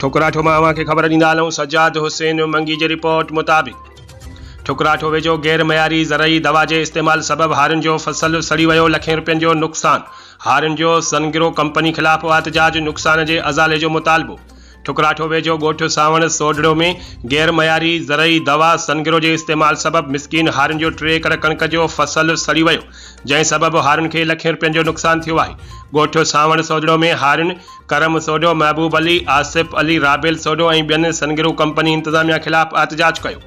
ٺڪراٺو مان اوهان کي خبر ڏيندا هلون سجاد حسين منگي جي رپورٽ مطابق ٺڪراٺو ويجهو غير معياري زرعي دوا جي استعمال سبب هارين جو فصل سڙي ويو لکين رپين جو نقصان هارين جو سنگرو ڪمپني خلاف احتجاج نقصان جي ازالي جو مطالبو ٺڪراٺو ويجهو ڳوٺ سانوڻ سوڍڙو ۾ غير معياري زرعي دوا سنگرو جي استعمال سبب مسڪين هارين جو ٽي ايڪڙ ڪڻڪ جو فصل سڙي ويو جنهن سبب هارين کي لکين رپين جو نقصان ٿيو آهي ڳوٺ سانوڻ سوڍڙو ۾ هارين ڪرم سوڍو، محبوب علي، آصف علي، رابيل سوڍو ۽ ٻين سنگرو ڪمپني انتظاميا خلاف احتجاج ڪيو.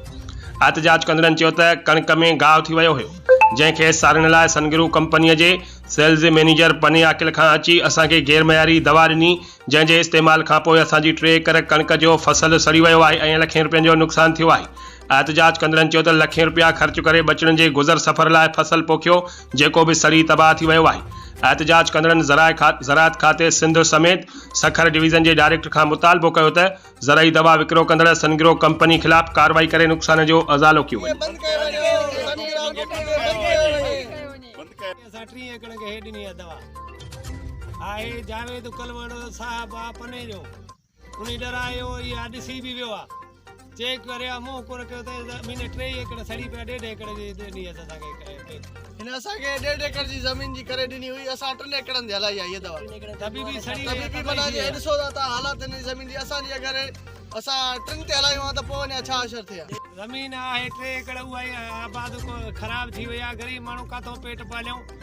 احتجاج ڪندڙن چيو ته ڪڻڪ ۾ گاهه ٿي ويو هيو، جنهن کي ساڙڻ لاء سنگرو ڪمپني جي سيلز مينيجر پني عاقل کان اچي اسان کي غير معياري دوا ڏني، جنهن جي استعمال کانپوء اسان جي ٽي ايڪڙ ڪڻڪ جو فصل سڙي ويو آهي ۽ لکين روپين جو نقصان ٿيو آهي. احتجاج ڪندڙن چيو ته لکين رپيا خرچ ڪري ٻچڙن جي گذر سفر لاء فصل پوکيو جيڪو به سڙي تباهه ٿي ويو آهي. احتجاج ڪندڙن زراعت کاتي سنڌ سميت سکر ڊويزن جي ڊائريڪٽر کان مطالبو ڪيو ته زرعي دوا وڪرو ڪندڙ سنگرو ڪمپني خلاف ڪارروائي ڪري نقصان جو ازالو ڪيو وڃي. هن ڏرايو يا ڏسي به ويو آهي چيڪ ڪريو آهي منهن ڪونه ڪيو اٿئي زمين ٽي ايڪڙ سڙي پيا ڏيڍ ايڪڙ جي ڏني اٿس اسان کي هن اسان کي ڏيڍ ايڪڙ جي زمين جي ڪري ڏني هئي اسان ٽن ايڪڙن تي هلائي آهي هيء دوا تبي به سڙي وئي تبي به معنيٰ جي ڏسو ٿا تان حالات هن جي زمين جي اسان جي اگر اسان ٽن تي هلايون ها ته پوء اڃا ڇا حشر ٿئي ها زمين آهي ٽي ايڪڙ اها ئي آباد خراب ٿي وئي آهي غريب ماڻهو ڪاٿو پيٽ پاليون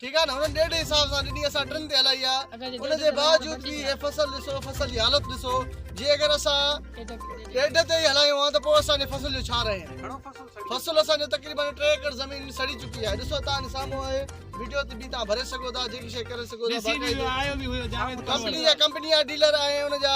ٺيڪ آهي نه هنن ڏيڍ جي حساب سان ڏني اسان ٽن تي هلائي آهي ان جي باوجود به هي فصل ڏسو فصل جي حالت ڏسو جي اگر اسان ڏيڍ تي ئي هلايون ها ته پوء اسان جي فصل جو ڇا رهي ها فصل اسان جو تقريبن ٽي ايڪڙ زمين سڙي چڪي آهي ڏسو تان جي سامهون آهي وڊيو تي به تان ڀري سگهو ٿا جيڪي شي ڪري سگهو ٿا ڪمپني جا ڪمپني جا ڊيلر آهي ان جا